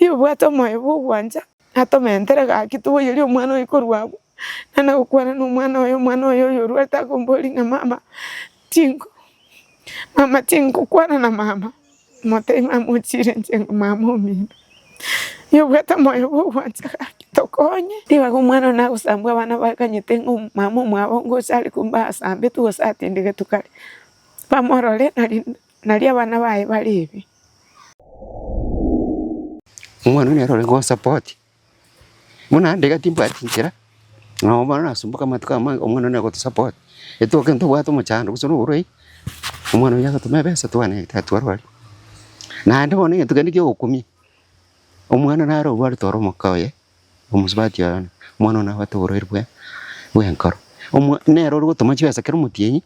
Oyio obwate omoyo bw'ogwancha, natomentere gaki toboyerie omwana oyo korwa abwo, naende agokwana nomwana oye, omwana oye oyorwete akomboria ng'a mama, mama tinkokwana na mama. Motebi mamochiire inche ng'a mama omino, nigo obwate omoyo bw'ogwancha gaki, tokonye. Tibaga omwana one agosambwa abana bakanyete ng'a mama omwabo ngocha are komba asambetu gose atindigetu kare, bamorore nari nari abana baye bare ebi. Omwana one nere ore konsapoti. Bono naende iga timbwati inchera, nabo bono nasumboka amatuko amange omwana one agotosapotia, etoke ntobwate omochando gose na oborwaire, omwana oria agatome ebesa twane egete atwarwe aria. Naende bono egento kende kia ogokumia, omwana naro obwarete ore omoka oye, omosubati oye one, omwana one nabwate oborwaire bwe bw'enkoro, omwa nere ore gotoma chibesa kera omotienyi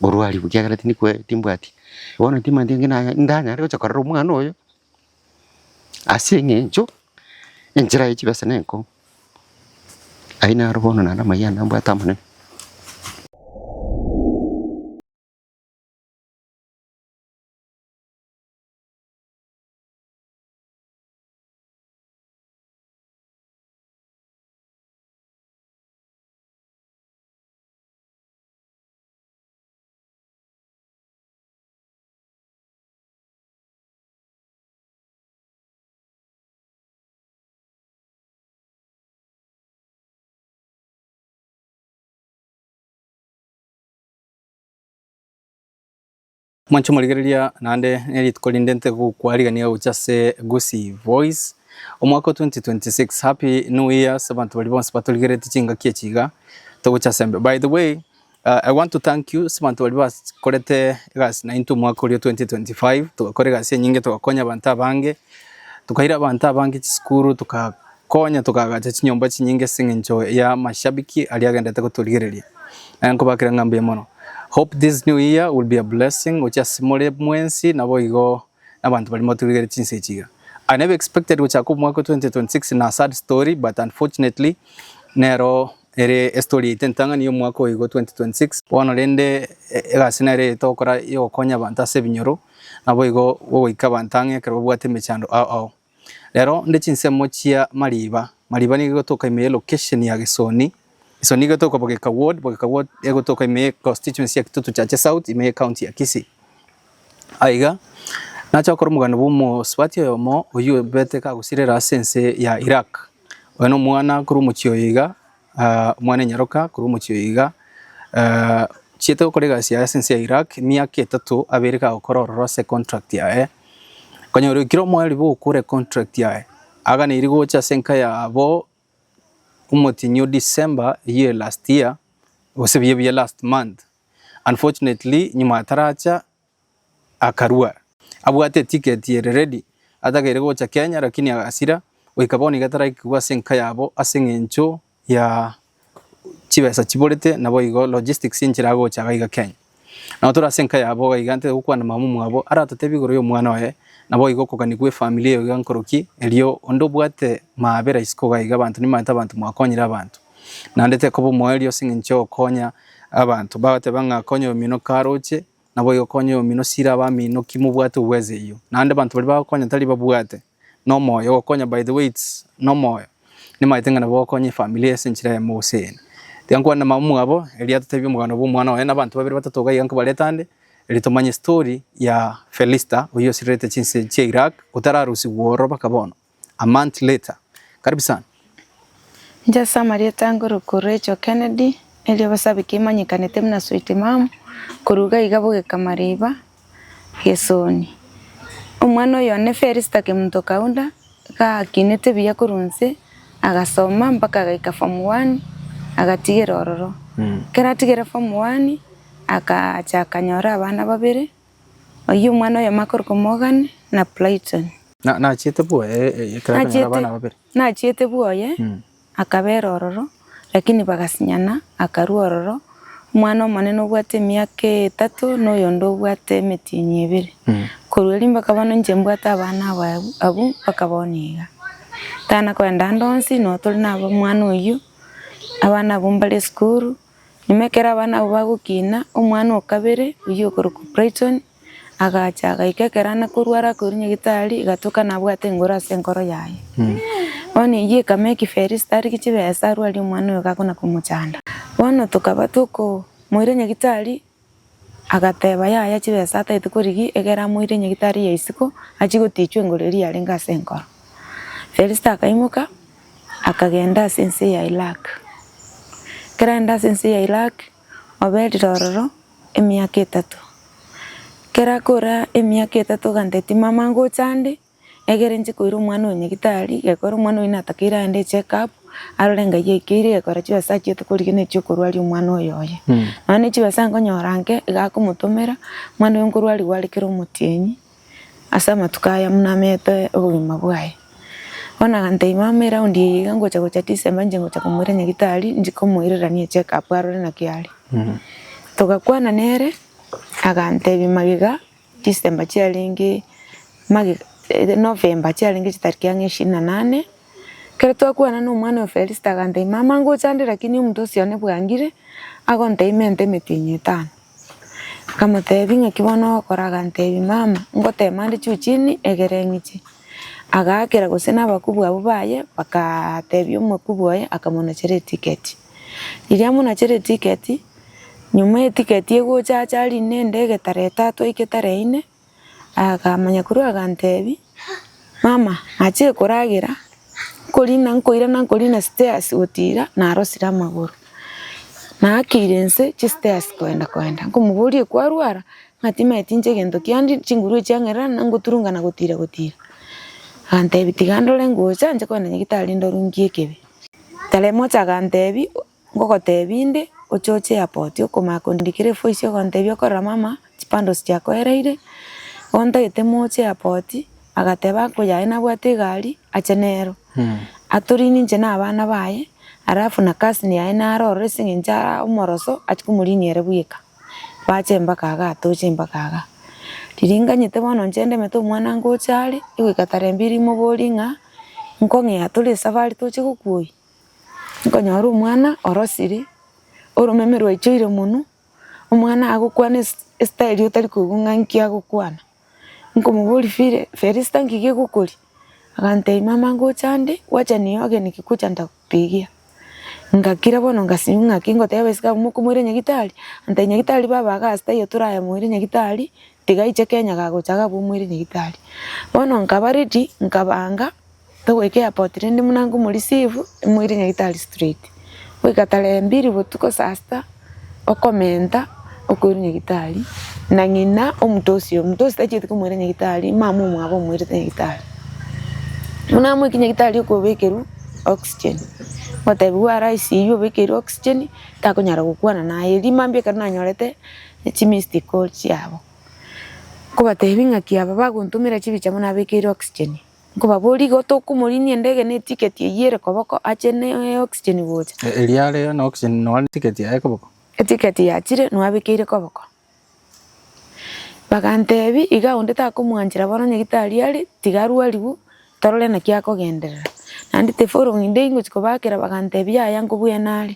orwarigwe ekiagera tindi kwe timbwati. Bono timanyeti ng'a nanya ndanyare gocha korera omwana oyo. Ase eng'encho enchera ye chibesa nenkong'u, aye naro bono naende amaiga ande mbwate amanene. Mwanche morigereria naende nerituko rinde ntegokwa rigania gocha ase Gusii Voice omwaka o 2026 happy new year ase abanto baria bonsi batorigereti chingaki echi iga togocha ase mbe by the way Uh, I want to thank you sibanto bari bakorete egasi nainto omwaka oria 2025 tugakora egasi enyinge tugakonya abanto abange tukaira abanto abange chisukuru tugakonya tukagacha chinyomba chinyinge sing'encho ya mashabiki aria agendete gotorigereria naye nkobakera ng'a mbuya mono hope this new year will be a blessing gocha ase more mwensi nabo igo nabanto bari motorigereria chinse echiga I never expected gochaka omwaka 2026 na sad story but unfortunately nero Ere estory yaito entang'ani y'omwaka oyoigo 2026. Bono rende egasi nere eye togokora y'ogokonya abanto ase ebinyoro, naboigo gogoika abanto ang'e ekero babwate emechando ao ao. Rero nde chinsemo chia Mariba. Mariba nigo egotoka ime ye location ya Gesoni. Gesoni nigo etoka Bogeka ward, Bogeka ward egotoka ime ye constituency ya Kitutu Chache South ime ye county ya Kisii. Aiga nache gokora omoganda bw'omosubati oyomo oyio obete kagosirera ase ense ya Iraq. Oye nomwana korwa omochie oyo iga, omwana enyaroka korwa omochie oyo iga, ochiete gokora egasi yaye ase ense ya Iraq emiaka etato abe ere kagokora ororo ase econtract yaye. Okonyora oikire omoyo ribogo okore econtract yaye, aganeirie gocha ase enka yabo omotienyi o December eyio ya last year, gose buya buya last month. Unfortunately nyuma ataracha akarua. Abwate ticket ere ready atageire gocha Kenya lakini agasira goika bono iga taraikigwa ase enka yabo ase eng'encho ya chibesa chiborete naboigo logistics enchera agocha gaiga Kenya. Nao tore ase enka yabo iga iga ntete gokwana mama omwabo aratotebi igoro y'omwana oye naboigo okogania gwe family eyo iga nkoroki erio onde obwate maabera isiko iga abanto nimanyete abanto mwakonyire abanto. Naende tekoba omoerio ase engencho y'ogokonya abanto. Bagateba ng'a konya oyomino karoche, naboigo konya oyomino sira abamino ki mobwate obweze eyio. Naende abanto baria bagokonya tari babwate nomoyo ogokonya by the way it's nomoyo. Nimaete ng'a nabo okonya efamiri ase enchera yamo gose eyende. Tiga nkwane na mama mwabo erio atotebia omoganda bw'omwana oye na abanto babere batato iga iga nkobarete ande erio tomanye story ya Felista oyio osirerete chinse chia Iraq otararusigwa ororo baka bono. A month later. Karibu sana. Inche ase amarieta ange Ruku Rachel Kennedy, erio Basabiki emanyekanete buna Sweet Mum, korwa iga iga bogeka mariba, Gesoni. Omwana oyo one Felista Kemunto Kaunda, iga akinete buya korwa inse, agasoma mpaka agaika form one, agatigera ororo. Ekero atigire form one, agacha akanyora abana babere, Oyio omwana oyomo akorokwa Morgan, na Brighton. Nachiete bwoye ekero akanyora abana Nachiete, babere. nachiete bwoye, Mm. akabera ororo, lakini bagasinyana, akarua ororo, omwana omonene obwate emiaka etato, na oyonde obwate emetienyi ebere. Mm. Korwa erio mpaka bono inche mbwate abana aba abwo- abwo mpaka bono iga. Tana koenda ande onsi, noo tore nabo omwana oyio, abana abwo mbare esukuru. Ime ekero abana abwo bagokina, omwana o kabere, oyio okorokwa Brighton, agacha agaika ekero ane korwara akoirwa nyagetari, egatoka nabwate engoro ase enkoro yaye. Bono eyio ekama ekiferi esitari chibesa arwarie omwana oyo gakona komochanda. Bono tokaba tokomoira nyagetari, Agateba, Yaya chibesa ataete korigi, egera amoire nyagitari ya isiko, achie gotiichwa engoro eria yarenge ase enkoro. Felisito akaimoka, akagenda ase ense ya Irak. Ekero arenda ase ense ya Irak, oberire ororo emiaka etato. Ekero akora emiaka etato oganteti, Mama ngocha ande. Egere inche koira omwana oyo nyagitari, gekora omwana oyo natakeire aende echeckup, arore enga eyio eikeire, egekora chibesa achio tokorigena echio okorwaria omwana oyo oye. Nonya ne chibesa nkonyora nke, iga akomotomera, omwana oyo nkorwarigwa are kera omotienyi, ase amatuko aya buna amete obogima bwaye. Bono agantebia mama eraundi eye iga ngocha gocha December inche ngocha komoira nyagitari, inche komoirerania echeckup arore naki are. Togakwana nere, agantebia magega, Disemba chiarenge magega eh Novemba chiarenge chitariki ang'e ishirini na nane, ekero twakwana na omwana oyo Felista agantebia, mama ngochandire lakini omonto osi one bwangire agontebia emento emetienyi etano. Nkamotebia ng'aki bono ogokora? Agantebia mama ngotema nde juu chini egere ng'iche. Agaakera gose nabakubwa abwo baye bakaatebia omokubwa oye akamonechera etiketi. Riria monachere etiketi, nyuma etiketi egocha ache aria na endege tara etato aike tara eyine, akamanya korwa agantebi, mama nache koragera, nkorina nkoirana nkorina stairs gotira narosire amagoro. Naakeire nse chistairs koenda koenda, nkomoboria kwarwara? Ng'a timanyeti inche egento kiandia chinguru echi chiang'erera na ngoturungana gotira gotira. Agantebi tiga ndore ngocha inche kogenda nyagetari ndorwe ngiekebe. Talemosi aganteebia, Ngogoteebia inde, ochoche Yapoti okomanya kondikera efoisi ogontebia okorora mama chipandosi chiakoereire, gontagete moche Yapoti, agateba ako yaye nabwate egari ache nero. Atorinie inche na abana baye, alafu na cousin yaye naro ororo ase engencho ara omoroso achia komorinia ere bweka. Bache mpaka iga atoche mpaka iga. Riringanyete bono inche ndemete omwana ngocha are, egoika tarehe mbili imoborie ng'a nkong'ea tore esafari toche gokwa oyio, nkonyora omwana orosire, oromeme rwaichoire monwe, omwana agokwana estairi otari koigwa ng'a inki agokwana. Nkomoboria, Fili, Felista nki gegokoria? Agantebia, Mama ngocha ande, gwacha nigo ogeniki gocha ndagotegia. Ngakira bono ngasimia ng'aki ngoteba esike abwo mokomoira nyagitari, antebia nyagitari baba iga ase taiyo toraya moire nyagitari, tiga aiche Kenya gagocha iga abwo omoire nyagitari. Bono nkaba ready, nkabanga. Togoika airport rende buna nkomoreceive emoire nyagetari straight, goika tarehe mbili botuko saa sita okomenta okoirwa nyagetari na ng'ina omonto ocio, omonto ocio tachieti komoira nyagetari mama omwabo omoirete nyagetari. Buna amoike nyagetari okobekerwa oxygen, otebiwa ara ICU obekeirwe oxygen takonyara gokwana naye, erio mambia ekero nanyorete chi missed call chiabo, nkobatebia ng'aki aba bagontomera chibicha bono abekeirwe oxygen. Nkobaboria igo tokomorinia endege ne etiketi eyio ere koboko ache ne oxygen gocha. Erio are na oxygen nonya ne etiketi yaye koboko. Etiketi yachire nwabekeire koboko. Bagantebia iga onde takomwanchera bono onye gitari are tiga arwariwu torore naki akogenderera. Naende tifollowing day ngochia kobaakera bagantebia yaya nkobwene are.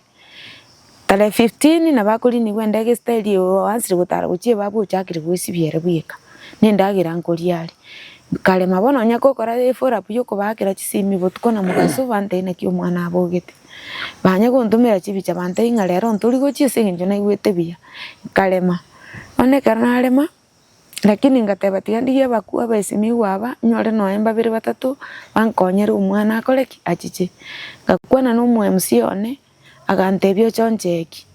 Tarehe fifteen nabo akoriinigwa endege esita eria oansire gotara gochia ebaabwo ochakire goesibia ere bweka, na endagera nkoria are. Nkarema bono onye gokora efollow up ya okobaakera chisimi botuko na mogaso bantebi naki omwana abogete. Banya gontomera chibicha bantebi ng'a rero ntori gochia ase eng'encho naigwete buya, nkarema. Bono ekero narema, Lakini ngateba, Tiga ndigie abakure abesimigwe aba, nyore nonya babere batato bankonyere omwana akore ki? Achiche. Ngakwana n'Omoemsi one, agantebia, Ochoncheki.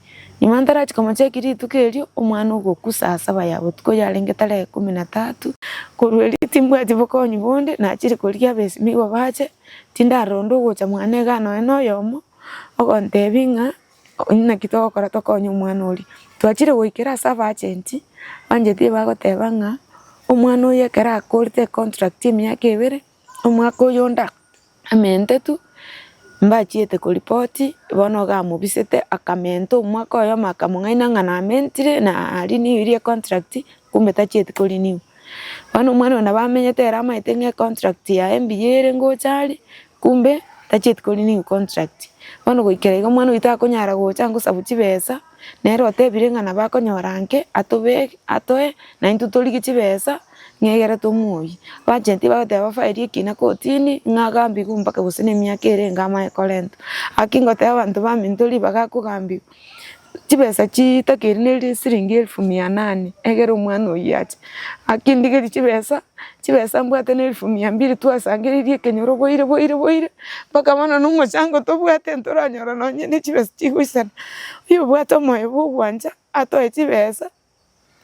Nyuma ntarachi komocheki rituko erio, omwana ogokwa saa saba ya botuko yarenge tara ikomi na tatu. Korwa erio timbwati bokonyi bonde, nachire korigia abesimigwe bache, tindaronda ogocha mwana iga nonya noyomo, ogontebia ng'a, Naki togokora tokonye omwana oria? Twachire goikera ase abagenti, abagenti nigo bagoteba ng'a omwana oyo ekero akorete econtract ya emiaka ebere, omwaka oyonde amente tu, mbachiete koripoti, bono iga amobisete akamenta omwaka oyomo akamong'aina ng'a namentire na renewire econtract, Kumbe tachieti korinigwa. Bono omwana oyo nabo amenyete ere amaete ng'a econtract yaye mbuya ere ngocha are, kumbe tachieti korinigwa econtract. Bono goikera iga omwana oyio takonyara gocha ngosabu chibesa, nere otebire ng'a nabo akonyora nke atobeke atoe na intwe torigie chibesa ng'egere tomoyie. Bacheti bagoteba bafairi ekina kotini ng'a agambigwe mpaka gose na emiaka ere enga amanye korentwa. Aki ngoteba abanto baminto ribaga akogambigwa, chibesa chiitaka eria neri esiringi elfu mia nane, egera omwana oyio ache akindigerie chibesa, chibesa mbwate ne elfu mia mbiri twasangereiri ekenyoro boire boire boire mpaka bono na omochango tobwate ntoranyora nonye ne chibesa chigoisana. Oyobwate omoyo bwa ogwancha atoe chibesa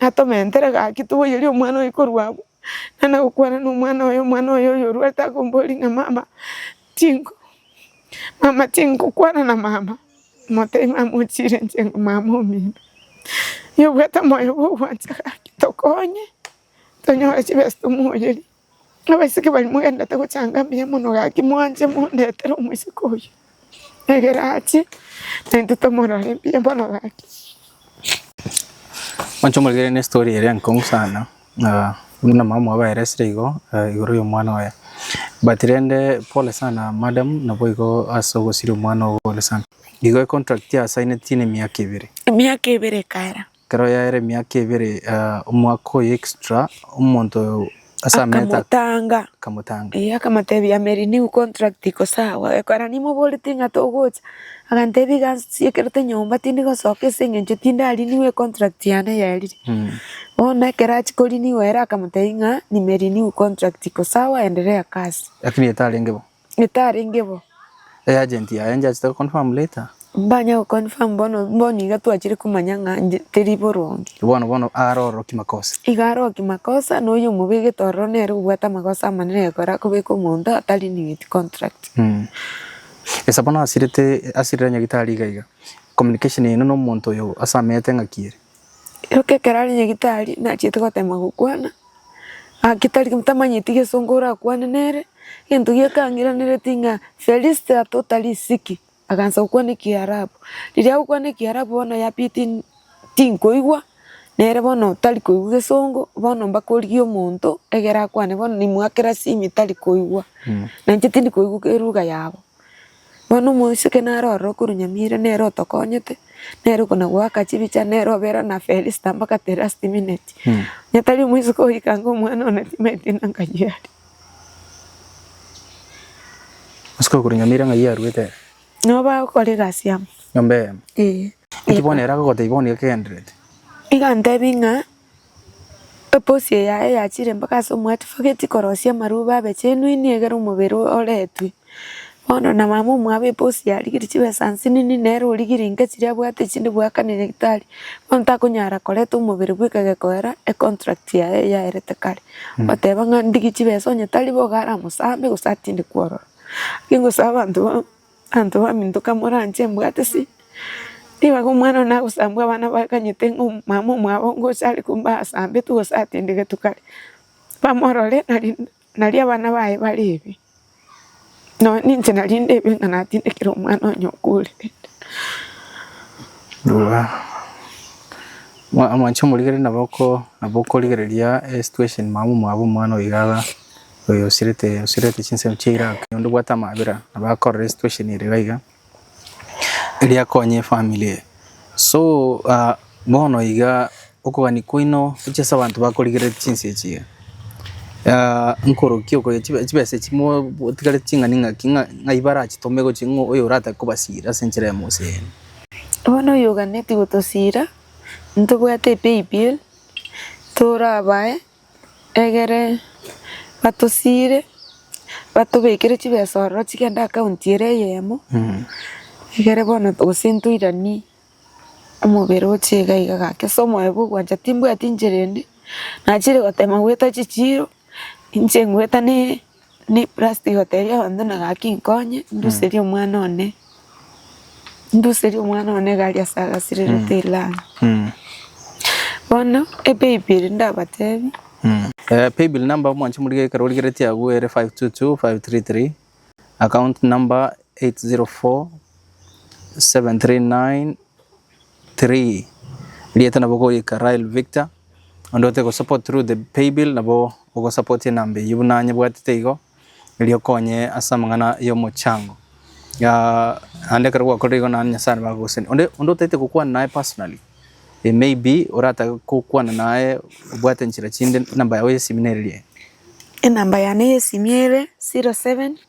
Natomentere gaki toboyerie omwana oye korwa agwo, naende gokwana nomwana oye, omwana oye oyo orwarete akomboria ng'a mama tingo mama tingokwana na mama, motebia ng'a mama ochire inche ng'a mama omino. Nigo obwate omoyo bwa ogwancha gaki tokonye tonyore chibesa tomoyerie. Abaiseke baria mogenderete gochanga mbuya mono gaki, mwanche mondetere omoiseke oyio, ekero ache naintwe tomorore mbuya mono gaki. Mwanche omorigererie ne story ere enkong'u sana ah, buna mama oye baeresire igo ah, igoro y'omwana oye but rende pole sana madam naboigo ase ogosiria omwana ogo pole sana igo econtract asaineti nemiaka ebere Emiaka ebere ekaera, Ekero yaeire emiaka ebere eh, omwaka oyo extra, omonto oyo ase amete ak- akamotanga akamotanga. Eh, akamotebia ame renew contract iko sawa ekora nimoboreti ng'a togocha agantebia iga nsiekirete nyomba tindi gosoka ase eng'encho tinda renew econtract yane yerire Mm. bono ekero achia ko renew ere akamotebia ng'a nime renew contract iko sawa enderea kasi Lakini etarenge bo. etarenge bo. E agent yaye njachete go confirm later. Mbanya go confirm bono bono iga twachire komanya ng'a nje teri boronge. Bono bono aare ororo ki makosa. Iga are o ki makosa na oyio omobegete ororo nere obwate amagosa amanene egekora akobeka omonto ata renewed contract. Esa bono asirete asirere nyagitari iga iga communication yaino na omonto oyo ase ameyete ng'aki ere. Erio ekero aria nyagetari nachiete gotema gokwana, gaki tari tamanyeti gesongo orakwane nere, egento gieka ang'iranereti ng'a feliste atota risiki, agansa gokwana ekiarabu. Riria agokwana ekiarabu bono yapiti tinkoigwa, nere bono tari koigwa gesongo, bono mpaka origie omonto egere akwane bono nimwakera simi tari koigwa. Nainche tindi koigwa elugha yabo. Bono omoiseke nare ororo korwa nyamira, nere otokonyete, nere okonagoaka chibicha, nere obera na Felisita mpaka Tirasti-mineti. Onye tari omoiseke oikanga omwana one timaeti na ng'ai aria. Omoiseke okorwa nyamira ng'ai aruete ere. Nabo bagokora egasi amo. Nyomba eyemo. Ee. Inki bono ere agogotebi bono igakenderete? Igantebia ng'a. Eposie yaye yachire mpaka ase omwatifi ogeti korosia amarubo abe chenwini egere omobere oretwe. Bono na mama omwabo eposi yarigiri chibesa nsinini nere origiri inke chiria abwate chinde goaka ne nyagetari. Bono takonyara koreta omobere bweka gekoera econtract yaye yaerete kare. Goteba ng'a ndigi chibesa onye tari boigo aramosambe gose atinde kwororo. Ingosaba abanto. Abanto bamintoka moranche mbwate ase Nigo igo omwana one nagosambwa abana bakanyete ng'a omomama omwabo ngocha are komba asambetu gose atindigetu kare bamorore nari nari abana baye bare ebi. Nonye ninche nari nde ebi ng'a natindekire omwana onye okore rende. Mwa- mwanche omorigereria nabo oko- nabo okorigereria esituesheni mama omwabo omwana oiga aga. Oyo osirete osirete chinsemo chia Iraq onde bwate amabera abakorera situation ere iga iga eria akonye efamily eye so ah bono iga okogania kwaino gochia ase abanto bakorigereti chinsa echi iga ah nkorokia okonya chibe chibesa echi mo motigareti ching'ani ng'aki ng'a ng'ai barachitome gochia ng'a oyo oratake kobasira ase enchera ya moseeni. Bono oyo oganetie gotosira ntobwate epaybill torabae Egere batosiire batobekere chibesa ororo chigende account ere eyemo, egere bono gose ntoiranie omobere oche iga iga gaki ase omoyo bwa ogwancha timbwati inchera ende, nachire gotema goeta chichiiro, inche ngoeta ne Niprasiti gotebia abanto na gaki, Nkonye nduserie omwana one, nduserie omwana one iga aria ase agasirerete Irlanda. Bono epaybill ndabatebie. Eh, paybill number omwanche morigie ekero origeretie agwo ere 522533 account number 804 739 three Erieta nabo ogoika Rael Victor onde ote go support through the paybill nabo ogo support enamba eyio buna nyebwatete igo erio okonye ase amang'ana ya omochango aah ande ekero gwakorire igo naende Nyasae nabo agogoseni onde onde otagete gokwana naye personally eh maybe oratabe gokwana naye obwate nchera chinde enamba yago ya esimi neririe. Enamba yane ya esimi ere zero seven.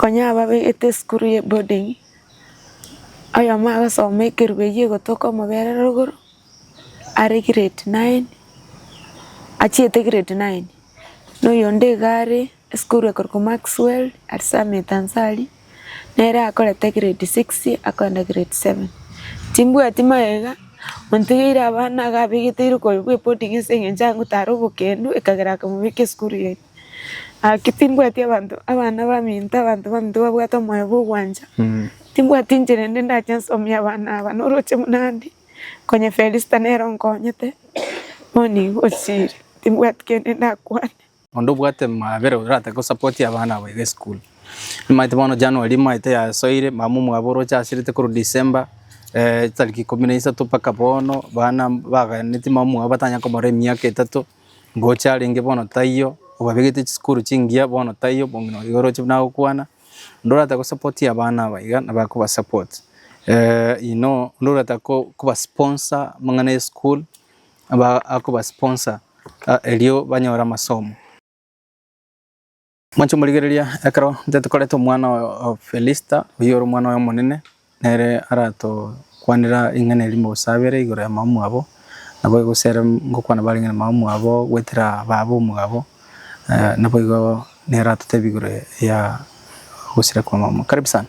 Konya ababegete esukuru ye boarding, oyomo agosoma ekerubo eyi egotoka omobere rogoro, are grade nine, achiete grade nine, na oyonde iga are esukuru ekorokwa Maxwell at Summit Ansari, nere akorete grade six akogenda grade seven. Timbwati magega, ontigeire abana iga abegeteire koyia bwa eboarding ase eng'encho agotara obokendu ekagera akamobeka esukuru eye. Gaki timbwati abanto, abana baminto, abanto baminto babwate omoyo bw'ogwancha. Timbwati inchera ende ndache nsomie abana aba, noroche buna ande, konye Felista nere onkonyete, bono igo osiire, timbwati kende ndakwane. Onde obwate mabera orate gosapoti abana aba iga esukuru. Nimaete bono January nimaete yasoire, mama omwabo oroche asirete korwa December, chitariki ikomi na isato mpaka bono, bana baganetie mama omwabo batanya komorora emiaka etato, Ngocha arenge bono taiyo, obabegete chisukuru chingiya bono taiyo, bono nabo iga oroche buna agokwana, onde orata gosapotia abana aba iga nabo akobasapoti, inoo onde orata ko- kobasponsa amang'ana y'esukuru nabo akobasponsa erio banyore amasomo. Mwanche morigereria, ekero intwe tokoreta omwana oyo o Felista, oyio ore omwana oye omonene, nere aratokwanera ring'ana erimo gose abere igoro ya mamomwabo, naboigo gose ere ngokwana bare ring'ana mamomwabo goetera baaba omogabo, eh, naboigo nere aratotebie igoro ya ogosira kwa mamomwabo. Karibu sana.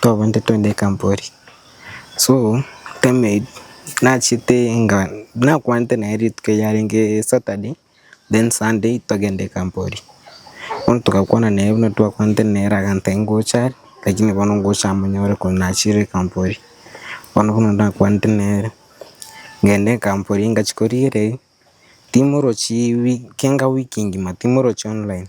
Twabande twende ekampori so time nachete nga nakwanete naye rituko erio yarenge Saturday then Sunday togende ekampori bono togakwana naye buna twakwanete naye agantebia ngocha are lakini bono ngocha amonyore konya nachire ekampori bono buna nakwanete nere ngende ekampori ngachia korigereria timorochi wiki kenga wiki ngima timorochi online.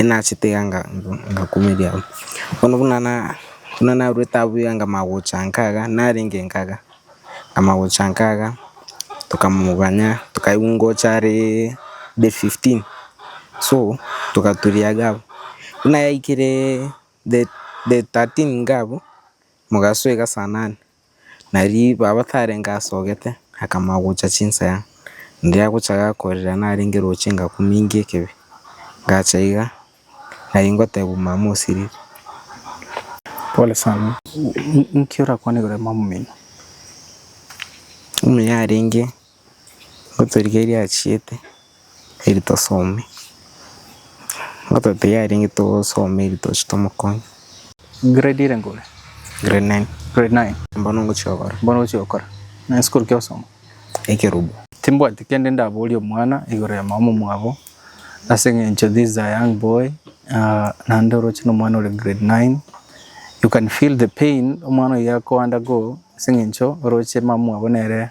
Enachete iga ngakumeria abwo. Bono buna narwete abwo iga nkamagocha nkaga, narenge nkaga, nkamagocha nkaga, tokamoganya, tokaigwa ngocha are day fifteen, so togaturia iga abwo. Buna yaikire day thirteen iga abwo, mogasoa iga saa nane. Na riria baba tarenge asogete, akamanya gocha chinsaya. Riria agocha gakorera narenge roche ngakumingia ekebe, ngacha iga, na ingotebwa mama osirire. Pole sana. Inki orakwana igoro ya mama oino? Omuya arenge. Ngotorigia eria achiete eri tosome, ngototiga aria inche togosoma eri toche tomokonye. Grade ere ngore? Grade nine. Grade nine. Mbono ngochia gokora. Mbono ngochia gokora. Nonye sikuru ki ogosoma? Ekerobu. Timbwati kende ndaboria omwana igoro ya mama omwabo ase eng'encho this is a young boy ah naende oroche na omwana ore grade nine you can feel the pain omwana oyio ago undergo ase eng'encho oroche mama mwabo nere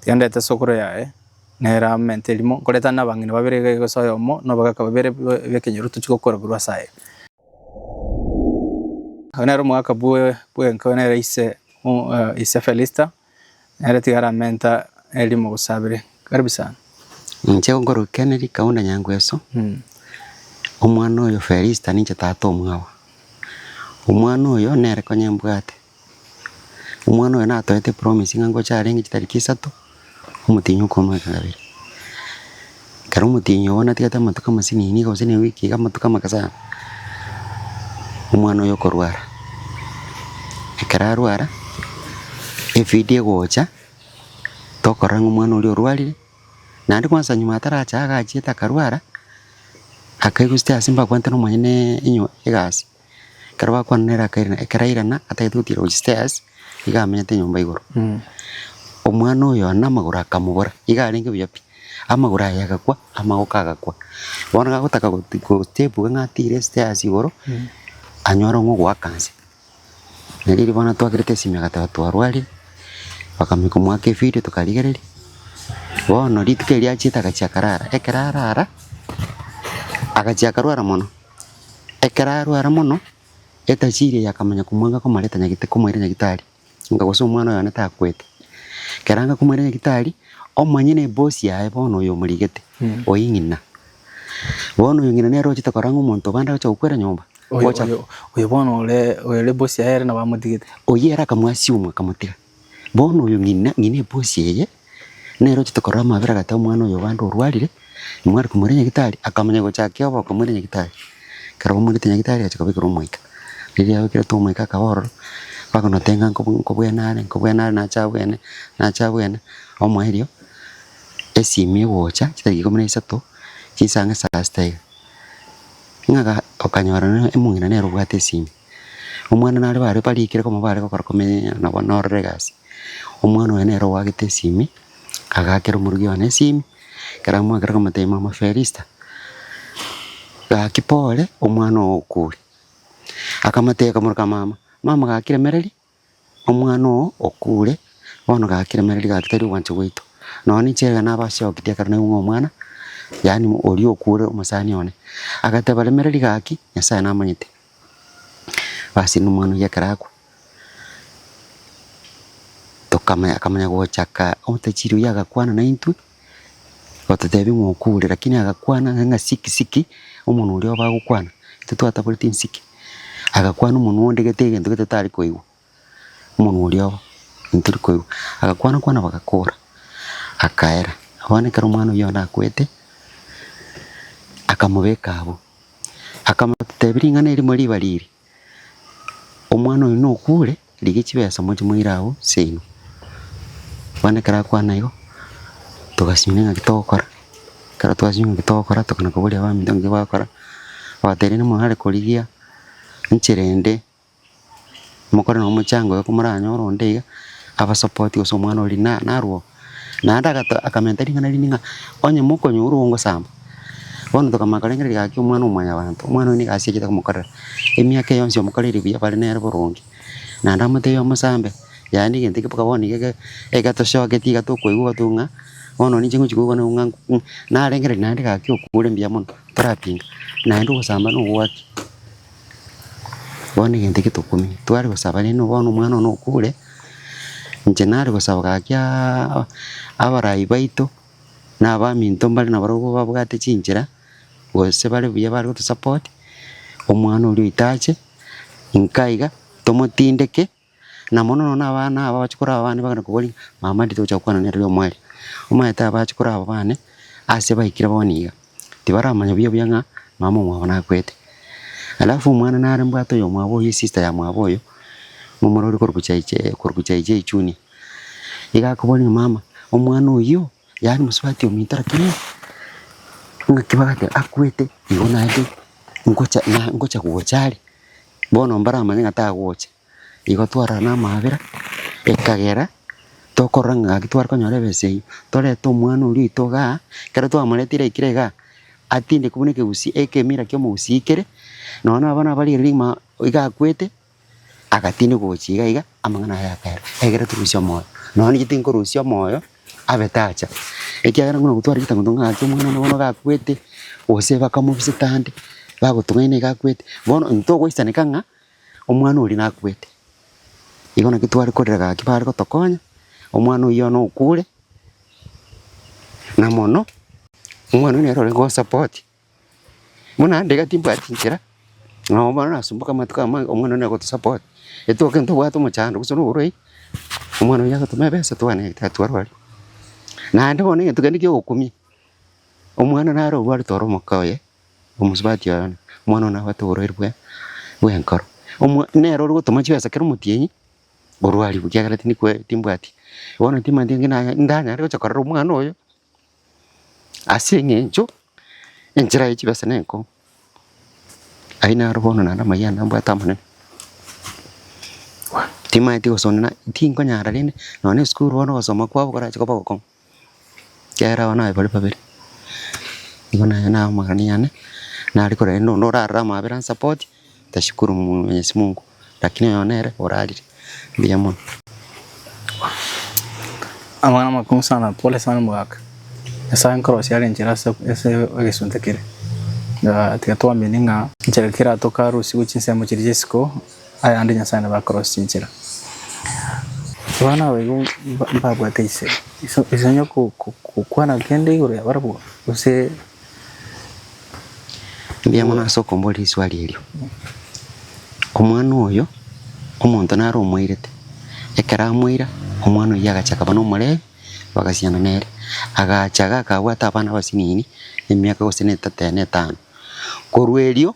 Tiga ndete esokoro yaye, nere amente erimo, nkoretane nabang'ina babere iga egesa oyomo, na obogaka babere bw'ekenyoro tochie gokorerwa ase aye. Oyo nere omogaka bw'enka, oyo nere ise ise Felista, nere tiga aramente erimo gose abere. Karibu sana. Ninche ngorokia ne rikaunda nyangweso, omwana oyo Felista ninche tata omwabo. Omwana oyo nere konya mbwate. Omwana oyo natoete promise ng'a ngocha arenge chitariki isato, omotienyi okomoa eke kabere. Ekero omotienyi obo natigete amatuko amasinini iga gose na ewiki iga amatuko amake sana, omwana oyo okorwara. Ekero arwara, efidi egocha, tokorora ng'a omwana oria orwarire, naende kwansa nyuma ataracha iga agachiete akarwara, akaigwa esete ase mbakwanete nomonyene enyo egasi. Ekero bakwana nere akairana, ekero airana atagete gotiira gochia stairs, iga amenyete nyomba igoro. Omwana oyo one amagoro akamobora, iga arenge buya pi, amagoro aye agakwa, amaboko agakwa. Bono gagotaka goti gostepuka ng'a atiire stairs igoro, anyore ong'o ogoaka nse. Nere riria bono atwakerete esimi agateba twarwarire, bakamanya komoaka evidio tokarigereria. Bono rituko erio achiete agachia akarara, ekero arara, agachia akarwara mono. Ekero arware mono, etachiiri eye yakamanya komwanga komareta nyagita komoira nyagitari, nga gose omwana oyone takwete. Ekero anka komoira nyagitari, omanye nebosi yaye bono oyo omorigete, oyio ng'ina. Bono oyo ng'ina nere ochete korora ng'a omonto bande agocha gokwera nyomba, Oyo, ogocha oyo, oyo bono ore, oyo ore boss yaye ere nabo amotigete. oyio ere akamwasimwa akamotiga. Bono oyo ng'ina, ng'ina ebusi eye, nere ochete korora amabera agate omwana oyo obande orwarire, nimware komoira nyagitari, akamonya gochakia obo okomoira nyagitari. Ekero bamoirete nyagitari agacha kobekera omoika. Riria yabekerete omoika akaba ororo, bakonota ng'a nko nkobwene are, nkobwene are nache abwene, nache abwene, omoa erio, esimi egocha chitariki ikomi na isato, chinsang'e saa sita iga. Ng'a ga okanyora na omong'ina nere obwate esimi. Omwana nare bare barikire koba bare gokora komenyereria nabo nororo egasi. Omwana oye nere oagete esimi, agakera omorugi one esimi, ekero amoakire akamotebia mama ferista, gaki pore omwana oo okure. Akamotebia akamoroka mama, mama gaki remereria. Omwana oo okure, bono gakiremereria gagitari ogwancha gwaito. Nonya ninche ekero nabasia gokitia ekero naigwe ng'a omwana, yaani oria okure omosani one, agateba remereria gaki, Nyasaye namanyete, basi na omwana oyio ekero akwa, tokamanya akamanya gochaka omotachiria oyio agakwana naintwe. Gototebi ng'a okure, rakini agakwana ng'a siki siki, omonwe oria obe agokwana, intwe twataboreti nsiki, agakwana omonwe onde gete egento gete tari koigwa, omonwe oria obo ntori koigwa, agakwana kwana bagakora, akaera. Bono ekero omwana oyio yona akwete, akamobeka abwo, akamotebi ring'ana erimo riba riiri, Omwana oyo nokure, rigia chibesa moche moire agho seino. Bono ekero akwana igo, togasinyora ng'a ki togokora, ekero twasinyora ng'a ki togokora, tokana koboria abaminto ng'a ki bagokora, bagateba rende mwarare korigia enchera ende, mokore na omochango oyo ko moranyore onde iga, abasapoti gose omwana oria na narwo. Naende akamenta ring'ana rinde ng'a, Onye mokonywa orwo ngosamba. Bono tokamanya korengereria gaki omwana o mwanyabanto. Omwana oyo nigo asiachete komokorera. Emiaka eye yonsi yamokoreirie buya bare nere boronge. Naende amotebia omosambe, Yaya negento eke boka bono nigo egetosogeti iga tokoigwa gotu ng'a bono ninche ngochi koigwa nao ng'a narengereria naende gaki okure mbuya mono, torapinga. Naende ogosamba nogoaki. Bono egento eke tokumia, tware gosaba rende bono omwana one okure, inche nare gosaba gakiaaa abarai baito, na abaminto mbare na barabwo babwate chinchera, gose bare buya bare goto support, omwana oria oito ache, inka iga, tomotindeke. Na mono mono abana aba abachikora aba bane bakana koboria ng'a, Mama, ndi togocha gokwana nere oyomo aria? Omanyete abachikora aba bane ase baikire bono iga, tibaramanya buya buya ng'a mama omwabo nakwete. Alafu omwana nare mbwate oyomwabo oyo esista ya mwabo oyo, momura ore korwa gochaiche korwa gochaiche echuni. Iga akoboria ng'a, Mama, omwana oyio yaani mosubati ominto lakini ng'aki bagateba akwete igo naende ngocha na ngocha gocha are? Bono mbaramanye ng'a tagocha. Igo twarara namabera, ekagera tokorora ng'a gaki tware konyora ebesa eyio. Torete omwana oria oito igaa, ekero twamorete ira ekire igaa, atindekwe buna ekegusii ekemira kia omogusii kere, nonya na abana baria riria rigima iga akwete, agatindekwa gochia iga iga, amang'ana aye akaerwa. Egere torusie omoyo. Nonye inche tinkorusia omoyo. abe tacha, ekiagera buna gotwara ritangoto ng'a aachia omwana bono gakwete, gose bakamobiseta ande, bagotung'aina iga akwete, bono intwe togoisaraneka ng'a omwana oria nakwete. Igo naki tware korera gaki bare gotokonya, omwana oyio bono okure, na mono, omwana oyio nere ore gosupport Buna ndiga timbwati inchera, nabo bono nasumboka amatuko amange omwana one agotosupport. Rituko kere ntobwate omochando gose noborwaire, omwana oyio agotoma ebesa twane egete atwarwari. Naende bono egento kende kia ogokumia, omwana nare orwarete ore omoka oye, omosubati oye one, omwana one nabwate oborwaire bwe bw'enkoro, omwa nere ore gotoma chibesa kera omotienyi orwarigwe ekiagera tindi kwe timbwati. Bono timanyeti ng'aki naye ndanyare gocha korera omwana oyo. Ase eng'encho enchera ye chibesa nenkong'u, aye naro bono naende amayia ande mbwate amanene. Timaeti gosonera, tinkonyara rende nonya na esukuru bono ogosoma kwabo korache kobe ogokong'u, ekiagera abana baye bare babere. Igo naye naro amagani yane, nare korenda onde orarore amabera ansapoti. Tashukuru mwenyezi mungu lakini oyo nere orarire mbuya mono. Amang'ana amakong'u sana, pole sana omogaka. Nyasaye nkorosie are enchera ase ase egesunte kere. Ah, tiga twamini ng'a enchera kera atoka arusigwe chinsemo chiria chia isiko, ayande Nyasaye nabo akorosie chinchera. Abana aba igo mba- mbabwate ise, ise ise onye ko- ko- kokwana kende igoro yabarabwo, gose. Mbuya mono ase okomboria riswali erio. Omwana oyo omonto naro omoirete, ekero amoira omwana oyio agacha akaba nomorebi, bagasiana nere. Agacha iga akabwata abana abasinini emiaka gose na etato na etano. Korwa erio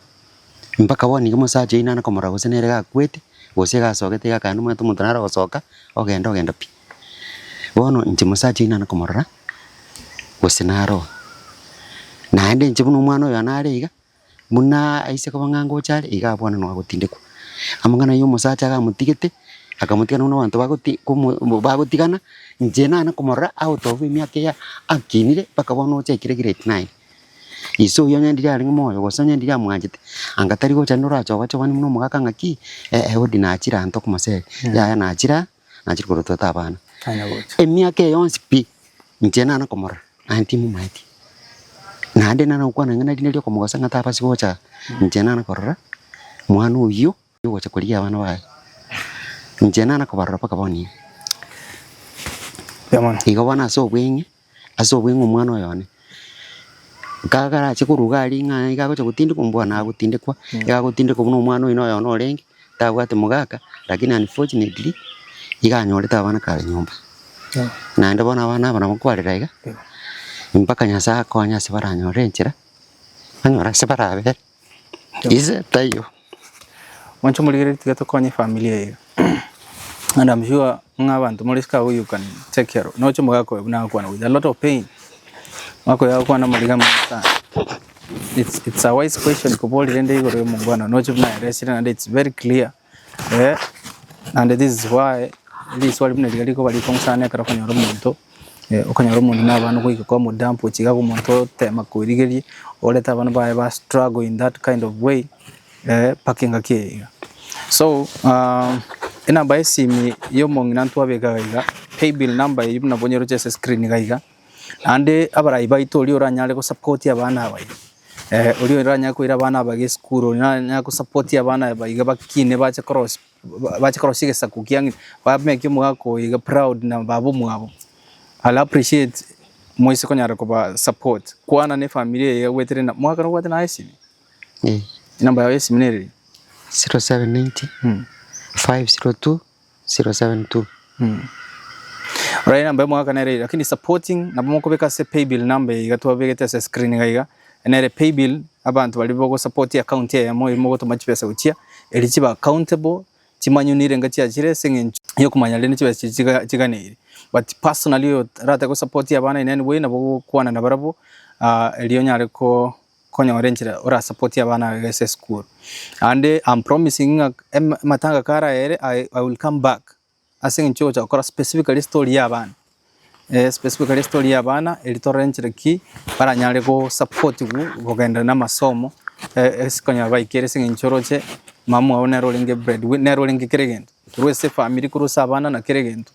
mpaka bono iga omosacha oyio nare komorora gose nere gakwete, gose iga asogete iga akande omanyete omonto naro ogosoka, ogenda ogenda pi. Bono inche mosacha oyio nana komorora, gose naroa. Naende inche buna omwana oyo yane are iga, buna aise koba ng'a ngocha are, iga abwane nonya gotindekwa. Amang'ana ayio omosacha iga amotigete, akamotigana buna abanto bagoti komo mbu bagotigana, inche nane komorora out of emiaka eyio akinire mpaka bono ochakire grade nine. Ise oyio onye ndiri arenge moyo gose onye ndiri amwanchete, anga tari gocha rende orachobachobani buna omogaka ng'aki, eh eh odi nachire anto komoseri, yaya nachire aa. Nachire korwa twete abana. Emiaka eye yonsi pi inche nana komorora aye timomaeti. Naende nana gokwana ng'a erinde ria okomogosa ng'a tabasi gocha inche nana korora mwana oyio ogocha korigia abana baye. Inche nana kobarora mpaka bono iga. Igo bono ase obweng'e. Ase obwo ing'e omwana oyone, kagarache korwa iga aria ng'a iga agocha gotindekwa mbwenu agotindekwa, iga agotindekwa buna omwana oyio noyone orenge, tabwati mogaka, lakini unfortunately, iga anyorete abana kare nyomba. Naende bono abana aba nabo kwarera iga, mpaka Nyasae akonye ase baranyore enchera, banyore ase barabere. Ise taiyo. Monche morigereria tiga tokonye efamiri eye and am sure ng'a abanto more isiko abwo you can take care of noche omogaka oyo buna agakwana with a lot of pain omogaka oyo agokwana amariga amange sana it's it's a wise question koborire rende igoro ya omongwana noche buna ayeresire naende it's very clear Eh, and this is why riswali buna riga rikoba rikong'u sana ekero okonyora omonto eh, okonyora omonto na abana goika kwa mudamp ochiga iga omonto otema koirigeria orete abana baye ba struggle in that kind of way eh, mpaka engaki eye iga so um, enamba y'esimi y'omong'ina ntwabekaga iga paybill number eyio buna bonyeroche ase screen iga iga Naende abarai baito oria oranyare gosapotia abana aba iga, oria oranyare koira abana aba iga esukuru, oria oranyare gosapotia abana aba iga bakine bache korosia bache korosia egesaku kia ng'ina, bamekie omogaka oyo iga proud na baba omwabo. I'll appreciate moise konyara koba support, kwana na efamiri eye iga gwetereri na, omogaka nobwate naye esimi? Enamba yago y'esimi nere eri? 0790 502 072. Oraire number emwaka nere eye lakini supporting nabo mokobeka ase paybill number eye iga twabegete ase screen iga iga nere paybill abanto baria bogo support account eyemo eria mogotoma chibesa gochia eria chibe accountable chimanyoni irenga chiachire ase eng'encho yokomanya rende chibesa chiria chiga chiganeire but personally oyo rate go support abana in any way nabo gokwana nabarabwo erio onyare ko. konyora enchera ora support abana baye ase esukuru and am promising ng'a amatanga kara ere I will come back ase eng'encho ogocha gokora specifically story ya abana eh specifically story ya abana eri torore enchera ki baranyare go supportigwa kogenda na amasomo ase konyara baikere ase eng'encho oroche mama ogo nere orenge bread winner nere orenge kera egento. Korwa ase efamiri korwa ase abana na kera egento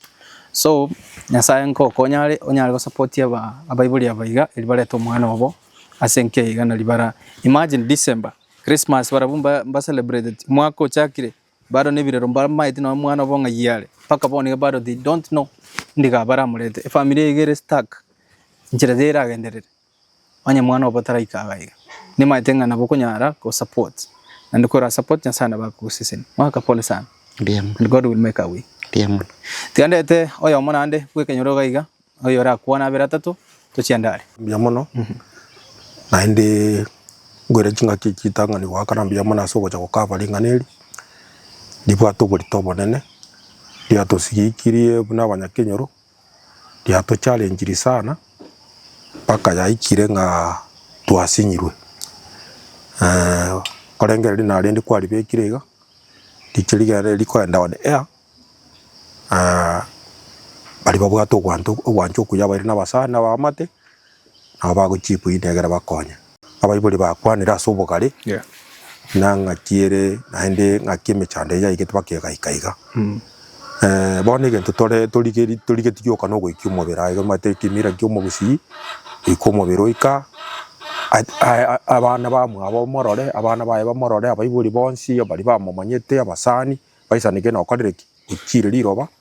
so nyasaye ngokonye are onyare gosapoti abaibori aba iga eri barete omwana obo ase enka eye iga nari bara imagine December Christmas barabwo mba celebrated omwaka ochakire bado na ebirero mbamaete nonya omwana obo ng'ai are mpaka bono iga bado they don't know ndiga baramorete efamiri eye iga ere stuck enchera teragenderere. Onye mwana obo taraika aa gaiga, nimaete ng'a nabo okonyara ko support, naende kora support Nyasae nabo agokoseseni. Mwaka pole sana and God will make a way. Tiga ndete oyomo naende bw'ekenyoro iga iga, oyo orakwane abere atato, tochie ande are. Mbuya mono, naende ngoire chingaki echi chitang'ani goakana mbuya mono ase ogocha gokaba ring'ana eri, ribwate oborito obonene, riatosigikirie buna abanyakenyoro. riatocharenchiri sana mpaka yaikire ng'a twasinyirwe. Korende riria narende kwaribekire iga, riria rigere rikoenda on air, baria babwate ogwancha okuya baire na abasani na abamate. nabo bagochiikwa eyio negere bakonye. Abaibori bakwanire ase obogare na ng'aki ere naende ng'aki emechando eyio yaigete baka egaika iga. Bono egento tore torigeri torigeti gioka nogoikia omobere aye egere omanyete ekemira ekia omogusii goika omobere oika abana bamwabo morore abana baye bamorore abaibori bonsi baria bamomanyete abasani baisanigwe nokorire ki? Ochiire riroba.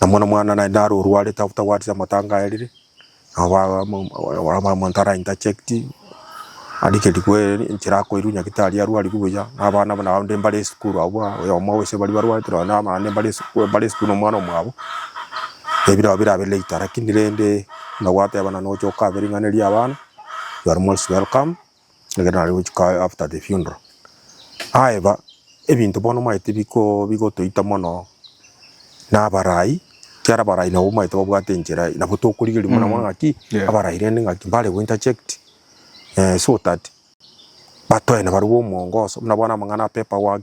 Namo nomwana naende naro orwarete otagwatete amatanga aye rire, nabo ba- mo- mo- mo- omonto ara interject, arigerigwe enchera akoirwa nyagete aria arwarigwe buya, na abana buna abande mbare esukuru abwo buna oyomo gose baria barwarete nonye na abande mbare esukuru mbare esukuru na omwana omwabo, ebira abwo birabe later, lakini rende buna gwateba na nocha okabiriganeria abana, you are most welcome. Ekero nare gochika after the funeral, aeba ebinto bono omanyete biko bigotoita mono na abarai, ekiara abarai nabo omanyete babwate enchera eye, nabo tokorigereria mono mono ng'aki Yeah. abarai rende ng'aki mbare go interject eh, so that batoe nabarabwo omongoso, buna bono amang'ana a paper work,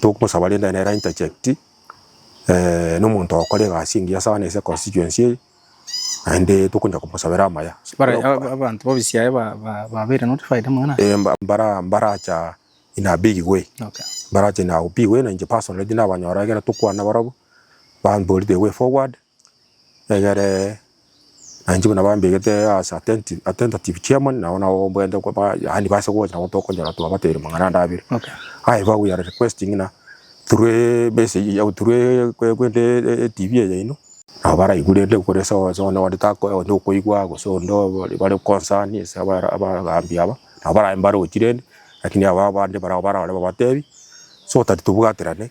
Togosaba rende nere ainterject nomonto okore egasi engiya saana ase econstituency eye, naende tokonya komosabera amaya. Bare aba- abanto b'obisia aye ba- ba- babeire notified amo na Eh, mba- mbara- mbaracha in a big way Okay. mbarache na big way na inche personally tinabanyora ekero tokwana barabwo bambori the way forward Egere nainche buna bambegete as attentive attentative chairman nabo nabo mbwenerete ko ba yaani base gocha nabo tokonyora twabateire mang'ana ande abere. Okay. However we are requesting ng'a through e message ya through e kwe kwende e- etv eye yaino nabo baraigwe rende kore ase onsi onde onde tako onde okoigwa gose onde obare bare concern ase abara abagambi aba, nabo barae mbarochi rende, lakini ababande barao barore babatebi so that tobwaterane.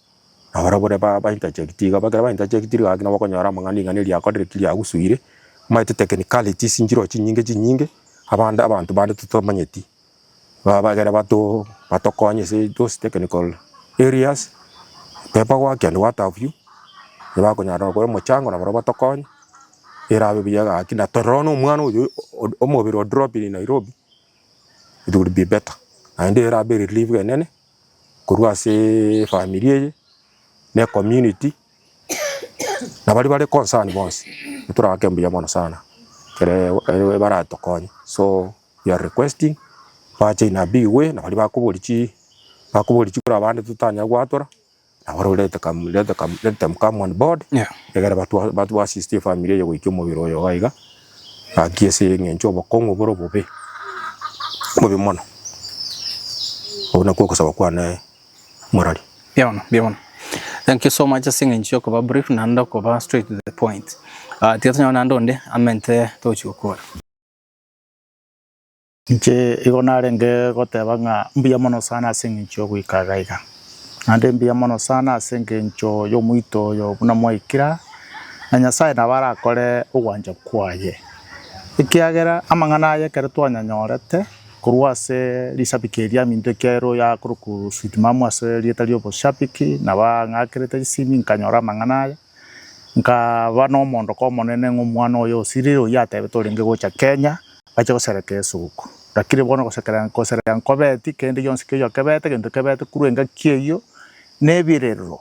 Abarabure ba ba interject iga ekero ba interject iga naki nabo okonyora amang'ana ring'ana eri riakorire ki riagusuire, omanyete technicalities nchire chinyinge chinyinge abande abanto bande totomanyeti, ba bagere bato batokonye ase those technical areas, paper work and what have you, bakonyara gokora omochango na barabwo batokonye, erabe buya gaki na tororo na omwana oyo o- omobere o drop in Nairobi, it will be better naende erabe relief enene korwa ase efamiri eye, na ecommunity, na baria bare concern bonsi, toraake mbuya mono sana, ekere ekero baratokonye, so we are requesting, bache in a big way, na baria bakobori chi bakobori chikoro abande totanyare goatora. Nabo ore let come let come let them come on board Yeah. egere batwa batwa assist efamiri eye goikia omobere oyo iga iga gaki ase eng'encho obokong'u bore obobe bobe mono obwo nakwo ogosaba kwane morari Mbuya mono, mbuya mono. Thank you so much ase eng'encho ya okoba brief naende okoba straight to the point. Ah, tiga tonyore naende onde amente togochia gokora. Inche igo narenge goteba ng'a mbuya mono sana ase engencho y'ogoikarera iga. Naende mbuya mono sana ase engencho y'omoito oyo buna mwaikire aa, na Nyasae nabo arakore ogwancha kwaye, ekiagera amang'ana aye ekero twanyanyorete korwa ase risabiki eri yaminto ekiagera ero yakorokwa sweet mama ase erieta ri'oboshabiki, nabo ang'akerete chisimi nkanyora amang'ana aya, Nkaba nomondoka omonene ng'a omwana oye osirire oyio atebe torenge gocha Kenya bache gosereka esuku. Lakini bono gosekera gosereka nkobeti kende gionsi keyo kebete gento kebete korwa engaki eyio na ebirerero.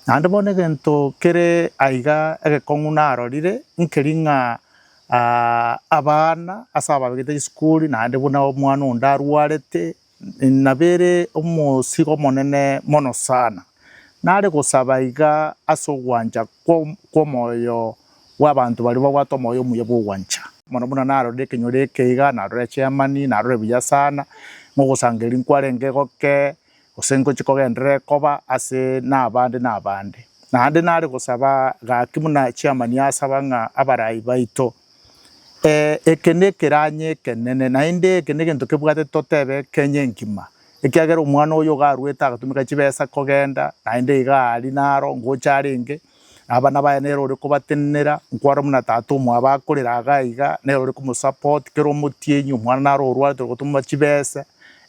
Naende bono egento kere aiga egekong'u narorire nkeri ng'a abana ase abagete chisukuri naende buna omwana onde arwarete Nabere omosigo omonene mono sana. Nare gosaba iga ase ogwancha kw'omoyo bw'abanto baria babwate omoyo omuya bw'ogwancha. Mono buna narorire ekenyoro eke iga, narore Germany, narore buya sana ng'a ogosangereria nkwarenge goke, gose ngochie kogenderere koba ase nabande nabande. Naende nare gosaba gaki buna chairman asaba ng'a abarai baito Ee, eke nekeranyi ekenene, naende eke negento kebwate totebe Kenya engima, ekiagera omwana oyo iga arwete agatumeka chibesa kogenda, naende iga aria naro ngocha arenge, na abana baye nere ore kobatenenera, nkwarora buna tata omwabo akorera iga iga, nere ore komosupport, kera omotienyi omwana naro orwarete ore gotumwa chibesa,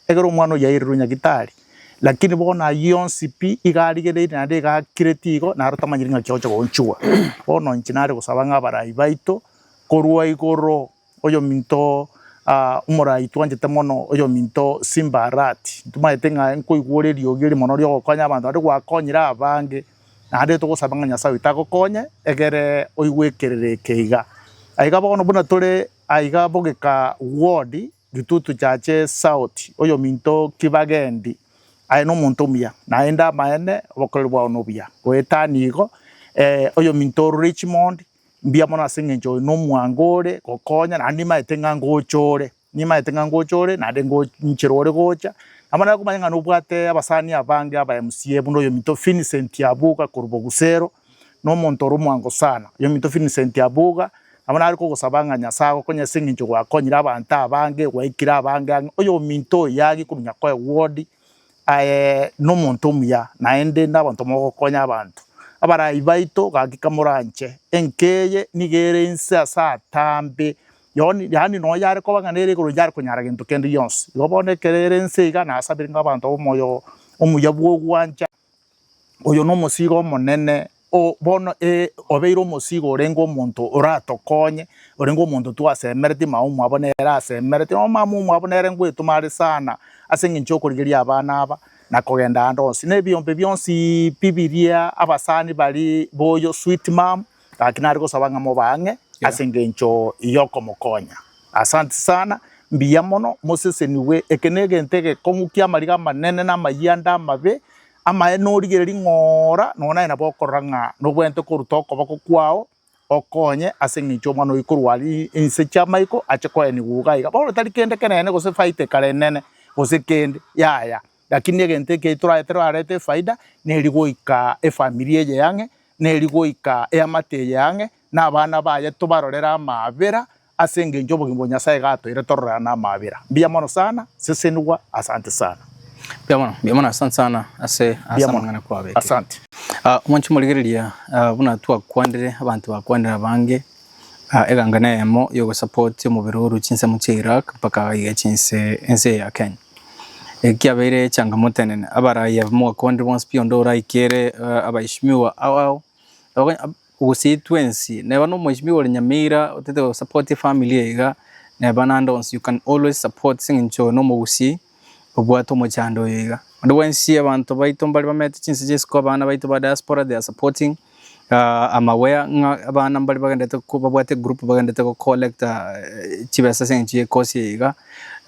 egere omwana oyio airerwe nyagitari. Lakini bono ayio onsi pi iga arigereire naende iga akireti igo, naro tamanyeti ng'aki agocha goonchigwa. Bono inche nare gosaba ng'a abarai baito, korwa igoro oyominto ah, omorai twanchete mono oyominto Simba Arati, ntomanyete ng'a nkoigwa ore eriogi eri mono riogokonya abanto naende gwakonyire abange, naende togosaba ng'a Nyasae oito agokonye egere oigwe ekerero eke iga. Aiga bono buna tore aiga bogeka ward, Gitutu chiache Saoti, oyominto o Kibagendi, aye nomonto omuya, naende amaene obokoreri bwao nobuya. Goetani igo, ee, oyominto o Richmond, mbuya mono ase engencho oyo nomwango ore gokonya, naende nimaete ng'a ngochore, nimaete ng'a ngochore naende ngo nchire ore gocha. Nabo nare komanya ng'a nobwate abasani abange aba MCA buna oyominto Vincent Abuga korwa Bogusero, na omonto ore omwango sana, oyominto Vincent Abuga, nabo nare kogosaba ng'a Nyasae agokonye ase eng'encho gwakonyire abanto abange, gwaikire abange ang'e. Oyominto oyo yage kominyoka koba ewodi aye nomonto omuya, naende inde abanto mogokonya abanto. Abarai baito, gakika moranche, enka eye niga ere inse ase atambe, yoni yaani nonya yare koba ng'a nere igoro inchare konyara gento kende gionsi. Igo bono ekero ere inse iga, nasabire ng'a abanto babe omoyo omuya bw'ogwancha. Oyo nomosiiga omonene, bono ee, obeire omosiiga orenge omonto oratokonye, orenge omonto twasemeretie, mama omwabo nere asemeretie, nonya mama omwabo nere ngoetoma are sana ase eng'encho y'okorigereria abana aba na kogenda aande onsi, na ebiombe bionsi pi biria abasani baria boyo sweet mum. Gaki nare gosaba ng'a mobe ang'e ase engencho y'okomokonya. Asanti sana, mbuya mono, mosesenigwe. Eke negento egekong'ukia amariga amanene na amayie ande amabe. Amaene origere ring'oora, nonya naye nabo okorora ng'a nobwenerete koruta okoboko kwao okonye ase engencho y'omwana oyio korwa aria inse chi'amaiko ache koenigwa iga iga. Bono tari kende kenene gose faita ekare enene gose kende, yaya. Lakini egento eke toraete rarete efaida neri goika efamiri eye yang'e, neri goika eamate eye yang'e, na abana baye tobarorere amaabera ase engencho obogima bwa Nyasaye gatoeire tororerane amaabera. Mbuya mono sana, sesenigwa, asante sana. Mbuya mono, mbuya mono, asante sana ase ase amang'ana kwabete. Asante. Mwanche morigereria, buna twakwanire, abanto bakwanire abange, Eganga neyemo yogosapotia omobere orwe chinsemo chia Iraq mpaka aiga chinse ense ya Kenya. Eki kiabeire echangamoto enene abaraiya mwaka onde bonsi pi onde oraikere abaishimiwa abao gose twensi neba no mwaishimiwa ore Nyamira otete gosapotia efamiri iga neba nande onsi you can always support seng'encho oyo no omogusii. obwate omochando oyo iga. Onde bwensi abanto baito mbare bamenyete chinse chinse ko abana baito ba diaspora they are supporting uh, I'm aware ng'a abana mbare bagendete ko babwate group bagendete go collect uh, chibesa ase eng'encho y'ekosi eye iga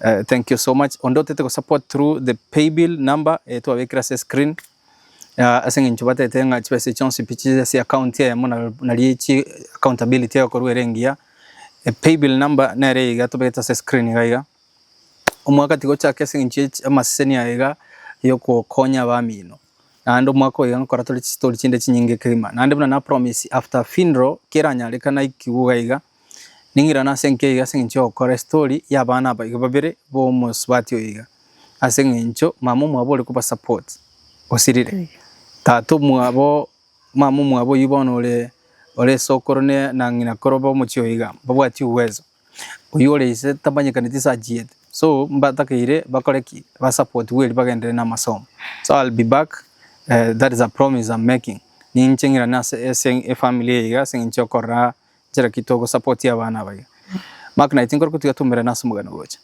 uh, thank you so much onde otete go support through the pay bill number eh, twabekire ase screen uh, ase eng'encho batete ng'a chibesa chionsi pi chiche ase account eyemo na- nari echi accountability egokorwa ere engiya Eh, pay bill number nere iga tobete ase screen iga iga Omwaka tigochaka ase engencho y'amaseseni aya iga y'ogokonya abamino, naende omwaka oyo iga nkora tore chistori chinde chinyinge kegima. Naende buna na promise after funeral keranyareka naikigwe iga iga, ning'irane ase enka iga ase engencho y'ogokora estori y'abana aba iga babere b'omosubati oyo iga, ase engencho mama omwabo ore koba support osirire. Tata omwabo, mama omwabo oyio bono ore, ore esokoro ne, na ng'ina kore obe omochie oyo iga, mbabwati uwezo. Oyio ore ise tamanyekaneti ase achiyete so mbatakeire bakore ki ba support Willy bagenderere na amasomo so I'll be back uh, that is a promise I'm making ninche ng'irane ase ase efamily eye iga ase eng'encho okorora nchera ki togo support abana aba iga Mark naye tinkore kotiga tomerane ase omogano gocha.